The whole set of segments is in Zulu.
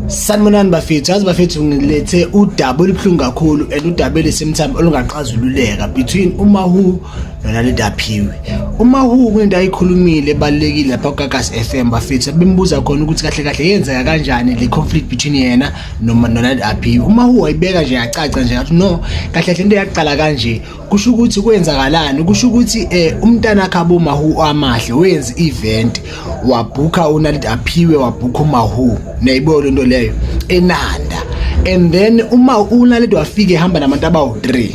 Sanibonani bafethu, yazi bafethu ngilethe udaba olubuhlungu kakhulu and udaba elisemthambo olungaxazululeka between uMahu nona leDaphiwe. UMahu kunento ayikhulumile ebalekile lapha kuKakas FM bafethu bembuza khona ukuthi kahle kahle yenzeka kanjani le conflict between yena noma nona leDaphiwe. UMahu wayibeka nje yacaca nje ngathi no kahle kahle into yaqala kanje kusho ukuthi kwenzakalani kusho ukuthi eh umntana khabo mahu amahle wenza event wabhukha unalid aphiwe wabhukha umahu nayibo lento leyo enanda and then uma unalid wafike ehamba nabantu abawu 3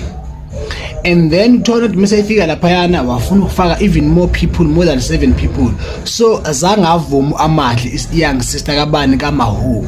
and then uthola ukuthi mase efika lapha yana wafuna ukufaka even more people more than 7 people so azange avume amahle is young sister kabani kamahu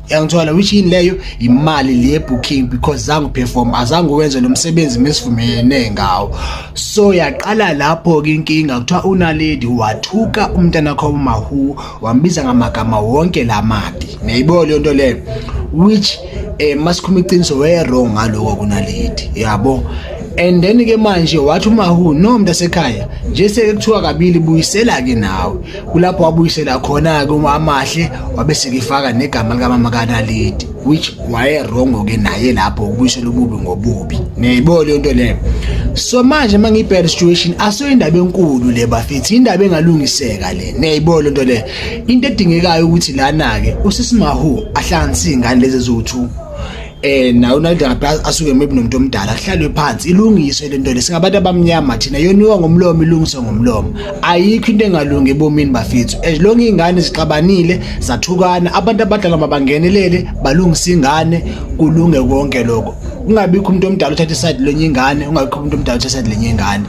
yangithola which yini leyo imali le booking because zangu perform azange wenze lo msebenzi mesivumelene ngawo so yaqala lapho ke inkinga kuthiwa unaledi wathuka umntana kho mahu wambiza ngamagama wonke lamabi niyayibo le nto leyo which eh masikhuma iqiniso we wrong ngaloko kunaledi yabo and then ke manje wathi umahu no mntasekhaya nje sekuthiwa kabili buyisela ke nawe kulapho wabuyisela khona-ke uma amahle wabe sekifaka negama likamama kanalidi which wayerongo-ke naye lapho ukubuyisela ububi ngobubi niyayibo leyo nto leyo so manje uma ngiyibhele situation aso indaba enkulu le bafethi indaba engalungiseka le niyayibo leyo nto leyo into edingekayo ukuthi lana-ke usisimahu ahlanganise iy'ngane lezi eziwu-two eh nayo nalide ngabe asuke maybe nomuntu omdala kuhlalwe phansi ilungiswe le nto le singabantu abamnyama thina yoniwa ngomlomo ilungiswe ngomlomo ayikho into engalungi ebomini bafethu as long ingane zixabanile zathukana abantu abadala mabangenelele balungise ingane kulunge konke lokho kungabikho umuntu omdala uthatha iside lenye ingane ungabikho umuntu omdala uthatha iside lenye ingane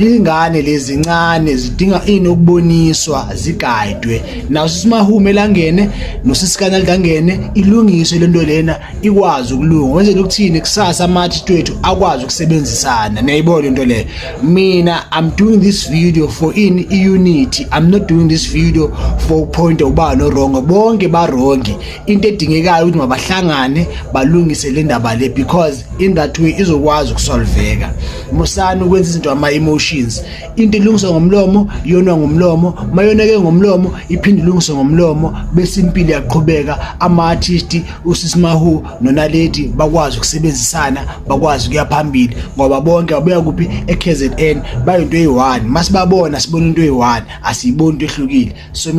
Ingane lezi ncane zidinga ini ukuboniswa zigayidwe nawo sisimahume elangene nosisikana ligangene ilungiswe lento lena ikwazi ukulunga wenzela ukuthini kusasa amathi twethu akwazi ukusebenzisana niyayibona into leyo mina i'm doing this video for in unity i'm not doing this video for point uba no wrong bonke ba wrong into edingekayo ukuthi mabahlangane balungise le ndaba le because in that way izokwazi ukusolveka musani ukwenza izinto ama-emotions into ilungiswe ngomlomo iyonwa ngomlomo mayoneke ngomlomo iphinde ilungiswe ngomlomo bese impilo yaqhubeka ama-artisti usisimahu nonaledi bakwazi ukusebenzisana bakwazi ukuya phambili ngoba bonke babuya kuphi e-kzn bayinto eyi-one masibabona sibona into eyi-one asiyiboni into ehlukile so mina